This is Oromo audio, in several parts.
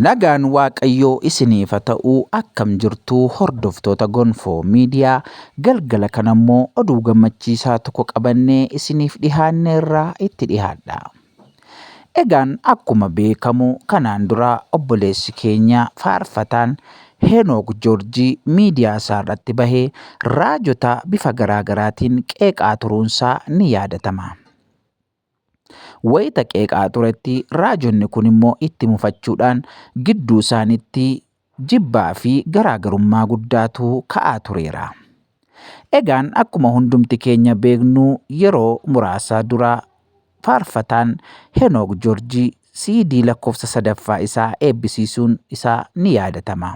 Nagaan waaqayyoo isiniif ha ta'u akkam jirtuu hordoftoota gonfoo media galgala kana immoo oduu gammachiisaa tokko qabannee isiniif dhihaanneerra itti dhihaadha. Egaan akkuma beekamu kanaan dura obboleessi keenya faarfataan Heenook Joorjii miidiyaa isaa irratti bahee raajota bifa garaa garaatiin qeeqaa turuunsaa ni yaadatama. Wayita qeeqaa turetti raajonni kun immoo itti mufachuudhaan gidduu isaanitti jibbaa fi garaagarummaa guddaatu ka'aa tureera. Egaan akkuma hundumti keenya beeknu yeroo muraasaa dura faarfataan Henook Joorjii siidii lakkoofsa sadaffaa isaa eebbisiisuun isaa ni yaadatama.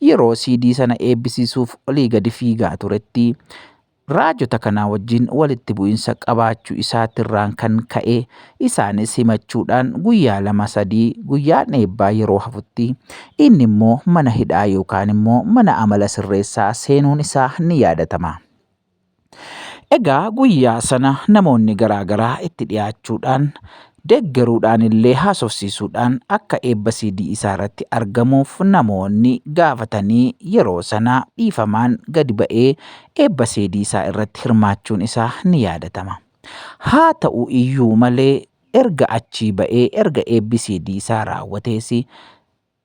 Yeroo siidii sana eebbisiisuuf olii gadi fiigaa turetti Raajota kanaa wajjin walitti bu'insa qabaachuu isaatirraan kan ka'e isaanis himachuudhaan guyyaa lama sadii guyyaan eebbaa yeroo hafutti inni immoo mana hidhaa yookaan immoo mana amala sirreessaa seenuun isaa ni yaadatama. Egaa guyyaa sana namoonni garaa garaa itti dhiyaachuudhaan deeggaruudhaanillee haasofsiisuudhaan akka eebba CD isaarratti argamuuf namoonni gaafatanii yeroo sana dhiifamaan gadi ba'ee eebba CD isaa irratti hirmaachuun isaa ni yaadatama. Haa ta'u iyyuu malee erga achii ba'ee erga eebbi CD isaa raawwatees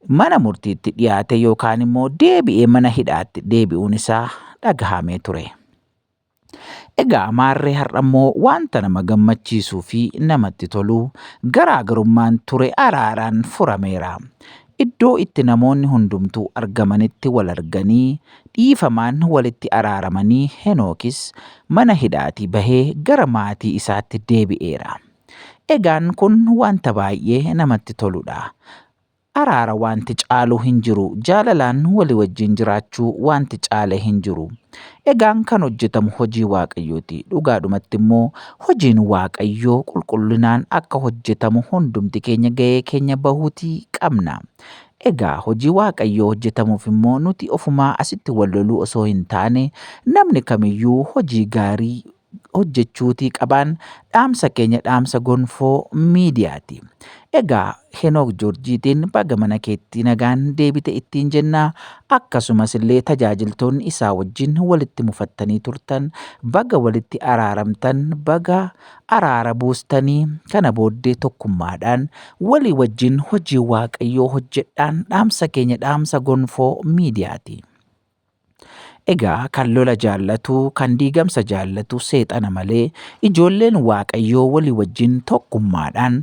mana murtiitti dhiyaate yookaan immoo deebi'ee mana hidhaatti deebi'uun isaa dhagahamee ture. Egaa maarree har'ammoo wanta nama gammachiisuu fi namatti tolu garaagarummaan ture araaraan furameera. Iddoo itti namoonni hundumtuu argamanitti wal arganii dhiifamaan walitti araaramanii Henookis mana hidhaatii bahee gara maatii isaatti deebi'eera. Egaan kun wanta baay'ee namatti toludha. Araara waanti caalu hin jiru. Jaalalaan wali wajjin jiraachuu waanti caale hin jiru. Egaan kan hojjetamu hojii Waaqayyooti. Dhugaadhumatti immoo hojiin Waaqayyoo qulqullinaan akka hojjetamu hundumti keenya ga'ee keenya bahuutii qabna. Egaa hojii Waaqayyoo hojjetamuuf immoo nuti ofumaa asitti wal loluu osoo hin taane namni kamiyyuu hojii gaarii hojjechuutii qabaan dhaamsa keenya dhaamsa gonfoo miidiyaati. Egaa Henook Joorjiitiin baga mana keetti nagaan deebite ittiin jenna akkasumas illee tajaajiltoonni isaa wajjin walitti mufattanii turtan baga walitti araaramtan baga araara buustanii kana booddee tokkummaadhaan walii wajjin hojii waaqayyoo hojjedhaan dhaamsa keenya dhaamsa gonfoo miidiyaati. Egaa kan lola jaallatu, kan diigamsa jaallatu seexana malee ijoolleen Waaqayyoo walii wajjin tokkummaadhaan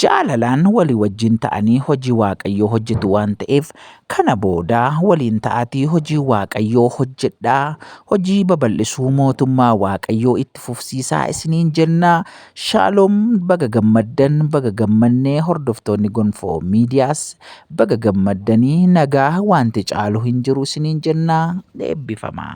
jaalalaan walii wajjin ta'anii hojii Waaqayyoo hojjetu waan ta'eef kana booda waliin ta'aatii hojii Waaqayyoo hojjedhaa hojii babal'isuu mootummaa Waaqayyoo itti fufsiisaa isiniin jennaa Shalom baga gammaddan baga gammannee hordoftoonni gonfoo miidiyaas baga gammaddanii nagaa wanti caalu hin jiru isiniin jenna eebbifamaa.